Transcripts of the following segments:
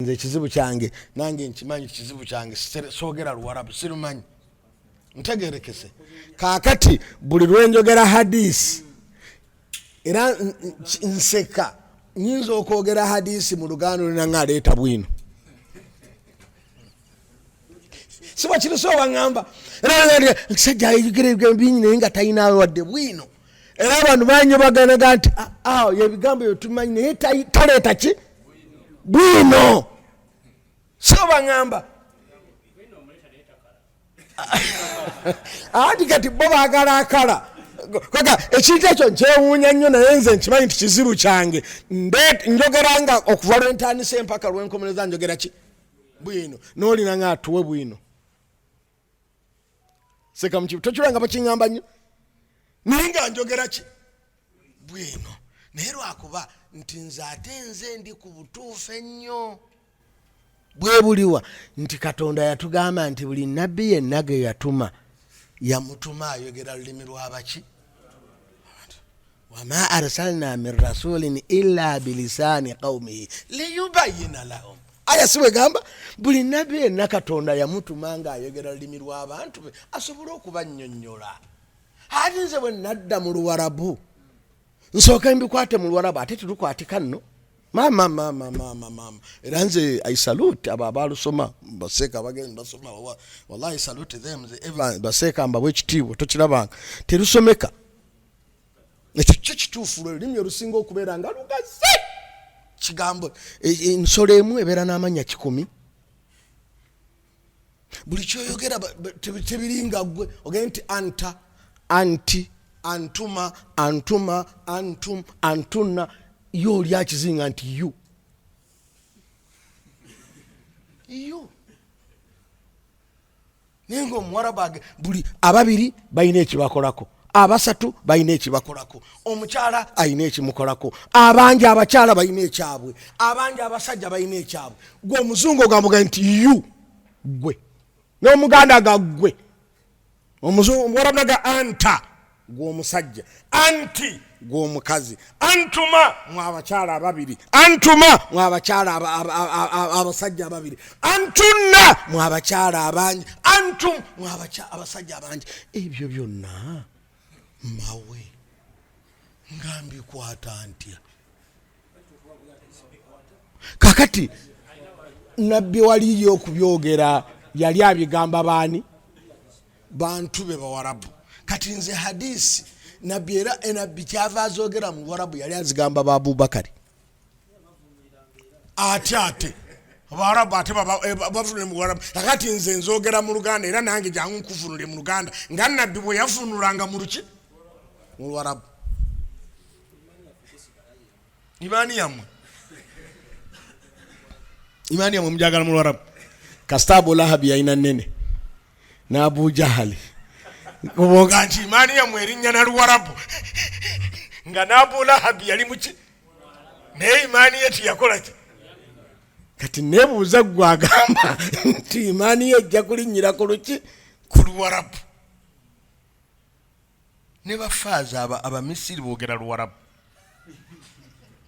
nze ekizibu kyange nange nkimanyi kizibu kyange soogera luwarabu sirumanyi ntegerekese kakati buli lwenjogera hadisi era nseka nyinza okwogera hadisi mu luganda olina nga aleeta bwino siba kiri so waŋamba era kisajja ayogera ebigambo bingi naye nga talina wadde bwino era abantu banyobaganaga nti awo ah, ah, yebigambo ebyo tumanyi naye taleeta ki bwino so baŋamba anti kati bo bagala akala koga ekintu ekyo nkyewuunya nnyo naye nze nkimanyi nti kizibu kyange njogera nga okuva lwentandisa empaka lwenkomereza njogera ki bwino nolina nga atuwe bwino seka mukibu tokiranga bakiŋamba nnyo naye nga njogera ki bwino naye lwakuba nti nze ate nze ndi ku butuufu ennyo bwebuliwa nti katonda yatugamba nti buli nabbi yenna ge yatuma yamutuma ayogera lulimi lwabaki wama arsalna min rasulin ila bilisani qaumihi liyubayina lahum aya siwegamba buli nabi ena katonda yamutuma nga ayogera lulimi lwabantu be asobole okubanyonyola ati nze bwe nadda mu luwarabu nsooka mbikwate mu luwarabu ate tilukwatika nno mama mama mama mama era nze i salute abo abalusoma baseeka bagenda basoma wallahi salute them ever baseeka mbabwe ekitiibwa tokirabanga terusomeka ekyo kyo kituufu lwe lulimi olusinga okubeera nga lugazi kigambo e, e, ensolo emu ebeera n'amanya kikumi buli kyoyogera tebiringa gwe ogende nti anta anti antuma antuma antum antunna yo oli akizinga nti yu yu naye ngaomuwarabu age buli ababiri balina ekibakolako abasatu balina ekibakolako omukyala alina ekimukolako abangi abakyala balina ekyabwe abangi abasajja balina ekyabwe gwe omuzungu ogambuga nti yu gwe nomuganda gaggwe omuzungu muwarabu naga anta gwe omusajja anti gwe omukazi antuma mwe abakyala ababiri antuma mwe abakyala abasajja ababiri antunna mwe abakyala abangi antum mwe abasajja abangi ebyo byonna mawe nga mbikwata ntya kakati nabbi waliyo okubyogera yali abigamba baani bantu be bawarabu kati nze hadisi nabbi era enabbi eh, kyava azogera mu bawarabu yali azigamba ba abubakari ate ate abawarabu ate eh, bavunule mu bawarabu akati nze nzogera mu luganda era nange jangu nkuvunule mu luganda nga nabbi bwe yavunulanga mu luki mu lwarabu imaani yammwe imaani yammwe mujagala mu lwarabu kasita abu lahabi yalina nene n'abu jahali obwoga nti imaani yammwe erinnya na luwarabu nga n'abu lahabi yali muki naye imaani ye tiyakola ki kati nebuuza gwe agamba nti imaani ye ejja kulinnyira ku luki ku luwarabu ne bafaaza aba abamisiri boogera luwarabu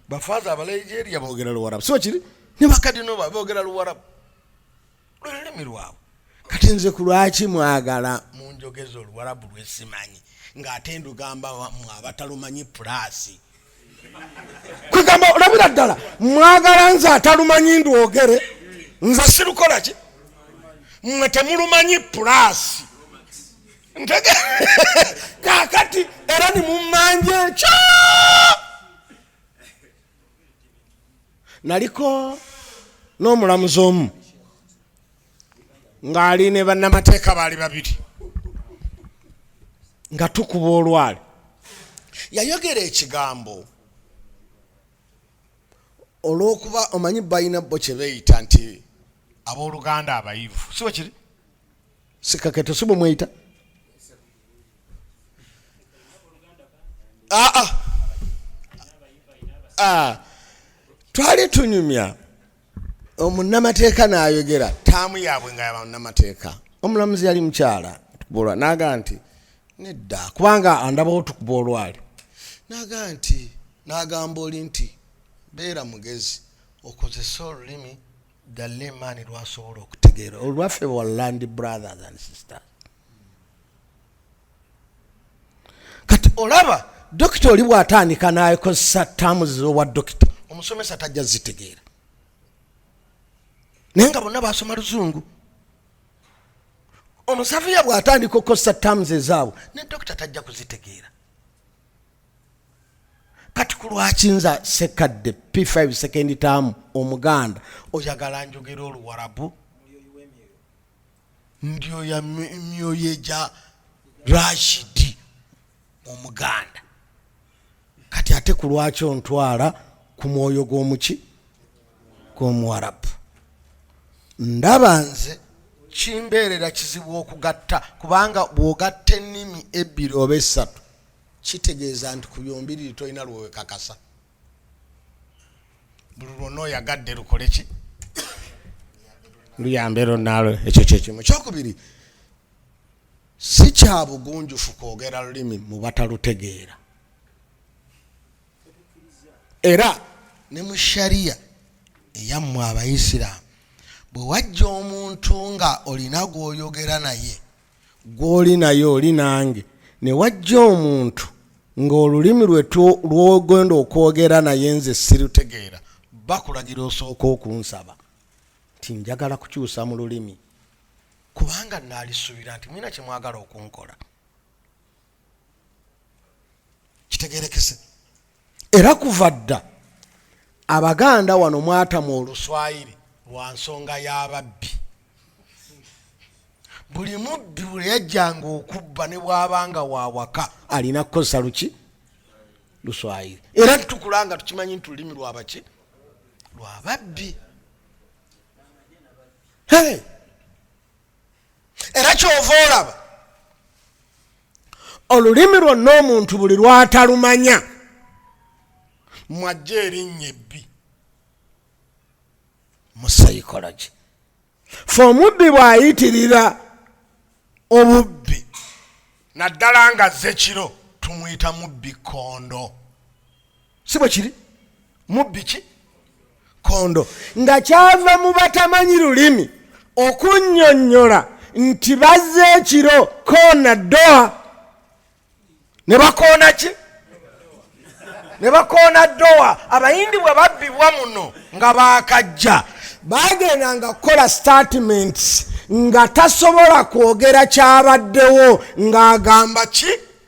bafaaza abaligeria boogera luwarabu so kiri ne bakadinoba boogera luwarabu lululimi lwabwe kati nze ku lwaki mwagala mu njogeza oluwarabu lwesimanyi ng'ate ndugamba mwe abatalumanyi pulaasi kwegamba olabira ddala mwagala nze atalumanyi ndwogere nze sirukola ki mwe temulumanyi pulasi ntege kakati era nimumanja ekyo naliko n'omulamuzi omu ng'ali ne bannamateeka baali babiri nga tukuba olwali yayogera ekigambo olw'okuba omanyi balina bo kye beeyita nti abooluganda abayivu si bwe kiri sikaketo si bwe mweyita aa ah, ah. ah. twali tunyumya omunnamateeka n'ayogera taamu yaabwe nga yabamunnamateeka omulamuzi yali mukyala tukuba olwali naga nti nedda kubanga andabawo tukuba olwali naga nti nagamba oli nti beera mugezi okozese olulimi dalle emaani lwasobola okutegeera olwaffe wa land brothers and sisters kati olaba dokita oli bwatandika nakozesa taamu zowa dokita omusomesa tajja zitegeera naye nga bonna basoma luzungu omusafiya bwatandika okukozesa taamu ezaabwe ne dokita tajja kuzitegeera kati kulwaki nza sekadde p5 sekendi taamu omuganda oyagala njogera oluwarabu ndyo ya myoyo egya rashidi omuganda kati ate ku lwaki ontwala ku mwoyo gw'omuki gw'omuwarabu ndaba nze kimbeerera kizibu okugatta kubanga bw'ogatta ennimi ebbiri oba essatu kitegeeza nti ku byombiriri tolina lwewekakasa buli lwonna oyagadde lukole ki luyambe lonnaalo ekyo kyekimu kyokubiri si kya bugunjufu kwogera lulimi mu batalutegeera era ne mu shariya eyammwe abayisiraamu bwe wajja omuntu nga olina gw'oyogera naye gw'oli naye oli nange ne wajja omuntu ng'olulimi lwe lwogenda okwogera naye nze sirutegeera bakulagira osooka okunsaba nti njagala kukyusa mu lulimi kubanga naalisuubira nti mulina kye mwagala okunkola kitegerekese era kuva dda abaganda wano mwatamu oluswayiri lwa nsonga y'ababbi buli mubbi bwe yajjanga okubba ne bwabanga wawaka alina kukozesa luki luswayiri era tutukula nga tukimanyi nti lulimi lwabaki lwababbi hey! era kyova olaba olulimi lwonna omuntu buli lwatalumanya mwajja erinnya ebbi mu psychology fe omubbi bw'ayitirira obubbi naddala nga ze kiro tumuyita mubbi kondo si bwe kiri mubbi ki kondo nga kyava mu batamanyi lulimi okunnyonnyola nti bazze ekiro koona doa ne bakoona ki ne bakoona doa abayindi bwe babbibwa muno nga baakajja bagenda nga kukola statements nga tasobola kwogera kyabaddewo ng'agamba ki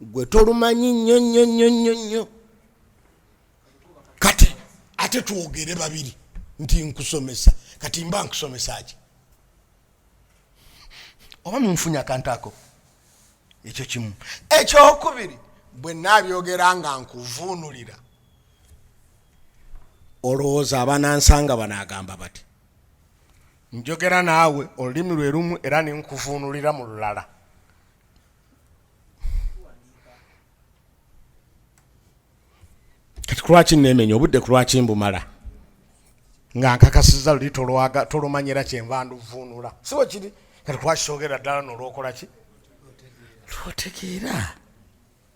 gwe tolumanyi nnyo nnyo nnyo nnyo nnyo kati ate twogere babiri nti nkusomesa kati mba nkusomesa ki oba munfunya akantu ako ekyo kimu ekyokubiri bwe nabyogera nga nkuvuunulira olowooza abanansanga banagamba bati njogera naawe olulimi lwe lumu era nenkuvuunulira mu lulala kati kulwaki nemenya obudde kulwaki mbumala nga nkakasiza luli tolumanyira kyenva nduvuunula siwe kiri kati kulwaki sogera ddala nolwokola ki lwotegeera